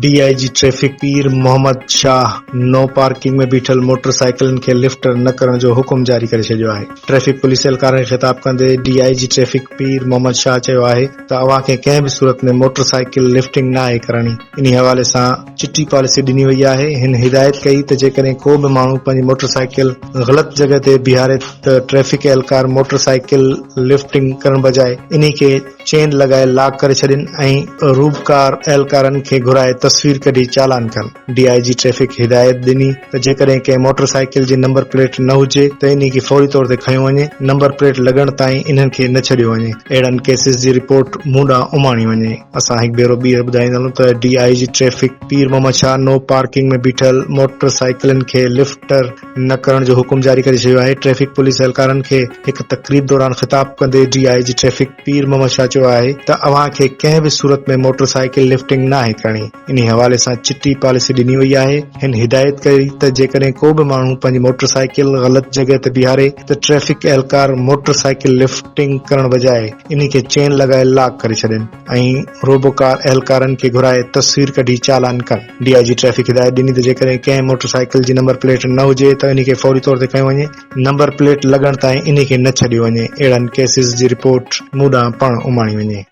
D I G traffic Pir Muhammad Shah no parking ۾ بيٺل motor سائيڪلن کي لفٽ نه ڪرڻ جو حڪم جاري ڪري ڇڏيو آهي ٽريفڪ پوليس اهلڪارن کي خطاب ڪندي D I G traffic Pir Muhammad Shah چيو آهي ته اوهان کي ڪنهن به صورت ۾ موٽر سائيڪل لفٽنگ ناهي ڪرڻي انهي حوالي سان چٽي پاليسي ڏني وئي آهي، هن هدايت ڪئي ته جيڪڏهن ڪو به ماڻهو پنهنجي موٽر سائيڪل غلط جڳهه تي بيهاري ته ٽريفڪ اهلڪار موٽر سائيڪل لفٽنگ ڪرڻ بجاء انهي کي چين لڳائي لاڪ ڪري ڇڏين ۽ روبڪار اهلڪارن کي گهرائي تصوير ڪڍي چالان ڪن، ڊي آء جي ٽريفڪ هدايت ڏني. ته جيڪڏهن ڪنهن موٽر سائيڪل جي نمبر پليٽ نه هجي ته انهي کي فوري طور تي کنيو وڃي، نمبر پليٽ لڳڻ تائين انهن کي نه ڇڏيو وڃي، اهڙن ڪيسز جي رپورٽ مون ڏانهن اماڻي وڃي. اسان هڪ ڀيرو ٻيهر ٻڌائيندا هلون ته D I G traffic Pir Muhammad Shah no parking ۾ بيٺل موٽر سائيڪلن کي لفٽ نه ڪرڻ جو حڪم جاري ڪري ڇڏيو آهي، ٽريفڪ پوليس اهلڪارن کي هڪ تقريب دوران خطاب ڪندي D I G traffic Pir Muhammad Shah چيو آهي ته اوهان کي ڪنهن به صورت ۾ موٽر سائيڪل لفٽنگ ناهي ڪرڻي. انهي حوالي سان چٽي پاليسي ڏني وئي آهي. هن هدايت ڪئي ته جيڪڏهن ڪو به ماڻهو پنهنجي موٽر سائيڪل غلط جڳهه تي بيهاري ته ٽريفڪ اهلڪار موٽر سائيڪل لفٽنگ ڪرڻ بجاء انهي کي چين لڳائي لاڪ ڪري ڇڏين ۽ روبو ڪار اهلڪارن کي گهرائي تصوير ڪڍي چالان ڪن. ڊي آء جي ٽريفڪ هدايت ڏني ته جيڪڏهن ڪنهن موٽر سائيڪل جي نمبر پليٽ نه هجي ته انهي کي فوري طور تي کنيو وڃي نمبر پليٽ لڳڻ تائين انهي کي نه ڇڏيو وڃي اهڙن ڪيسز جي رپورٽ مون ڏانهن پڻ اماڻي وڃي.